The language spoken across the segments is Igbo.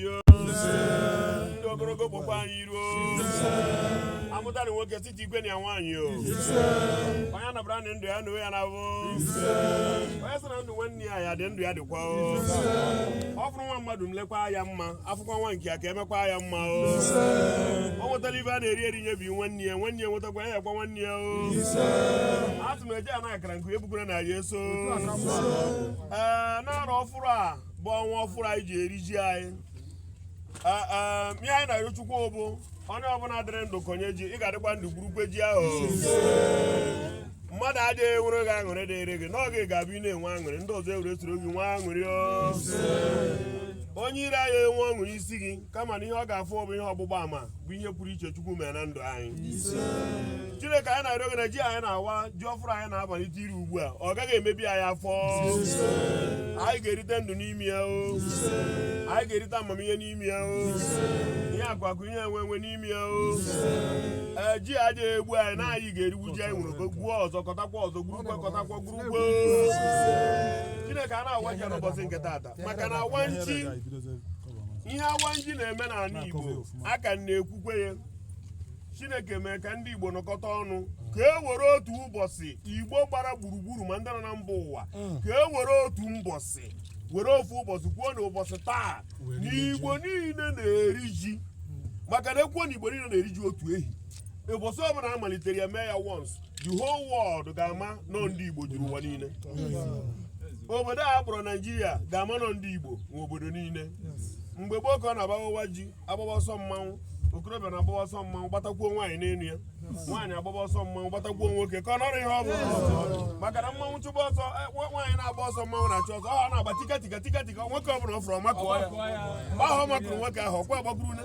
ndụ ogologo kpọkwa anyị iru o amụta na nwoke site igwe na ya nwaanyị o onye anabara na ndụ ya na ya na-abụ onye sị na ndụ nwanne ya ya dị ndụ ya dịkwa o ọ fụrụ nwa mmadụ mekwa ya mma afụkwa nwa nke ya ka emekwa ya mma o ọ nwetala ihe a na-eri eri nyebi nwanne ya nwanne ya nwetakwa ya nyekwa nwanne ya o atụ m eje anaghị akara nke ebukwere na ya eso ee n'arọ ọfụrụ a bụ ọnwa ọfụrụ anyị ji eri ji anyị ihe anyị na-arịọ Chukwu bụ onye ọbụla dịrị ndụ kọnye ji ị ga-adịkwa ndụ gburukwe ji ahụ mmadụ adịghị enwere gị aṅụrị dịrị gị n'oge ga-abụ ị na-enwe aṅụrị ndị ọzọ ewere soro gị nwee aṅụrị onye iro aya enwe ọṅụrị isi gị kama na ihe ọ ga-afụ bụ ihe ọgbụgba ama bụ ihe pụrụ iche Chukwu mere na ndụ anyị Chineke anyị na-arịọ gị na ji anyị na-awa ji ọfụrụ anyị na-amalite iri ugbu a ọ gaghị emebi anyị afọ anyị ga-erite ndụ n'ime ya o anyị ga-erite amamihe n'ime ya o ihe akụakụ ihe enwe enwe n'ime ya o ee ji aya egbu anyị na anyị ga-erigbu ji anyị ewere gbuo ọzọ kọtakwa ọzọ gburukwa kọtakwa gburukwa Chineke a na-awa ji n'ụbọchị nke taata maka na awa nji ihe awa nji na-eme n'ala Igbo aka m na-ekwukwe ya Chineke mee ka ndị Igbo nọkọta ọnụ ka e were otu ụbọsị Igbo gbara gburugburu ma ndị nọ na mba ụwa mm. ka e were otu mbọsị were ofu ụbọsị kwuo na ụbọsị taa na Igbo niile na-eri ji maka na ekwuo na Igbo niile na-eri ji otu ehi ụbọsị ọbụla a malitere ya mee ya once the whole world ga-ama na ọ ndị igbo juru ụwa niile obodo a kpọrọ naijiria ga-ama na ọ ndị igbo nwe obodo niile mgbe gboo ka ọ na-abụ awaa ji agbaba ọsọ mmanwụ okorobịa na-agbaba ọsọ mmanwụ gbatakwuo nwaanyị n'elu ya nwaanyị agbaba ọsọ mmanwụ gbatakwuo nwoke ka ọ nọrọ ihe ọ bụ maka na mmanwụ chụba ọsọ e, nwaanyị na-agba ọsọ mmanwụ na-achụ ọsọ ọ na-agba tika tika tika tika nwoke ọ bụla ọ fụrụ ọ makụọ ya mgbe ahụ ọ makụrụ nwoke ahụ ọkwa agbakwuru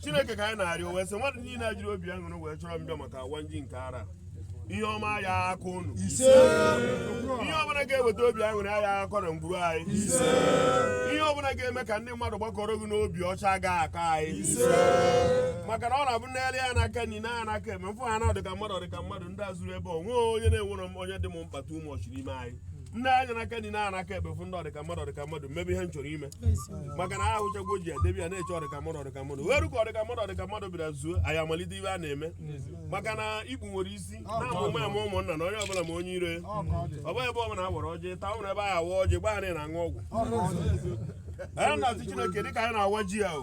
chineke ka anyị na-arịọ wee sị mmadụ niile a jiri obi aṅụrị wee chọrọ m bịa maka awa nji nke arọ a ihe ọma aya akọ unu ise ihe ọbụla ga-eweta obi aṅụrị aya akọ na ngwuru anyị ise ihe ọbụla ga-eme ka ndị mmadụ gbakọrọ gị n'obi ọcha aga akọ anyị ise maka na ọ na-abụ m lee anya n'aka nri na n'aka ekpe m fụ ha na ọdịka mmadụ ọdịka mmadụ ndị a zuru ebe o nwe onye na-enwere onye dị m mkpata ụmụ ọchị n'ime anyị nee anya n'aka nri na aka ekpe fụ ndị ọdịka mmadụ ọdịka mmadụ m mebe ihe m chọrọ ime maka na ahụchagwo ji edebe ya na-eche ọdịka mmadụ ọdịka mmadụ wee rue ka ọdịka mmadụ ọdịka mmadụ bịara zuo anyị amalite ihe a na-eme maka na Igbo nwere isi na-amụ ụmụ ama ụmụnna na onye ọbụla ma onye ire ọ bụghị ebe ọbụla awara ọjị taa ụrụ ebe anyị awa ọjị gbaa na-aṅụ ọgwụ anyị na-asị Chineke dịka anyị na-awa ji a o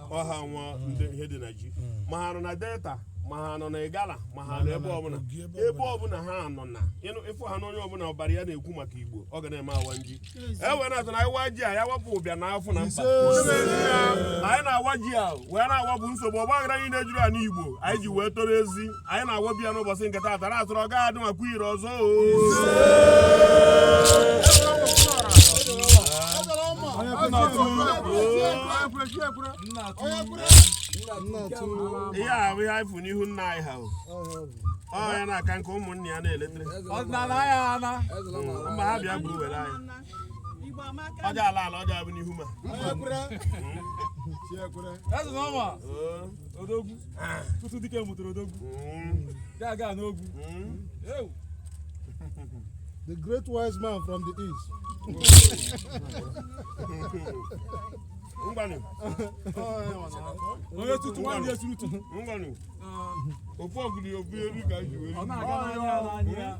ọha nwa ndị ihe dị na ji ma ha nọ na Delta ma ha nọ na Igala ma ha nọ ebe ọbụla ebe ọbụla ha nọ na ịfụ ha na onye ọbụla ọbara ya na-ekwu maka Igbo ọ ga na-eme awa nji e wee na-atụ na ịwa ji a ya wapụ ụbịam na afọ na mkpa anyị na-awa ji a wee na-awapụ nsogbu ọgbaghara niine juru anị Igbo anyị ji wee toro ezi anyị na-awabi ya n'ụbọchị nke taata na atụrụ ọ ga-adị mma kwa ire ọzọ ihe a bụ ihe anyị fụ n'ihu nna anyị ha ọ ya na-aka nke ụmụnne ya na-eletere mba ha bịa gburu were anyị ọja ala ala ọja bụ n'ihu ma Eze na ọma. odogwu tutu dike mụtara odogwu gaga n'ogwu ewu the great wise man from the east. Ngwanu. Onye tutu nwanne ya suru tutu. Ngwanu. Ofu ọgụdị obu elu ka anyị ji wee. Ọ na-aga n'anya n'anya.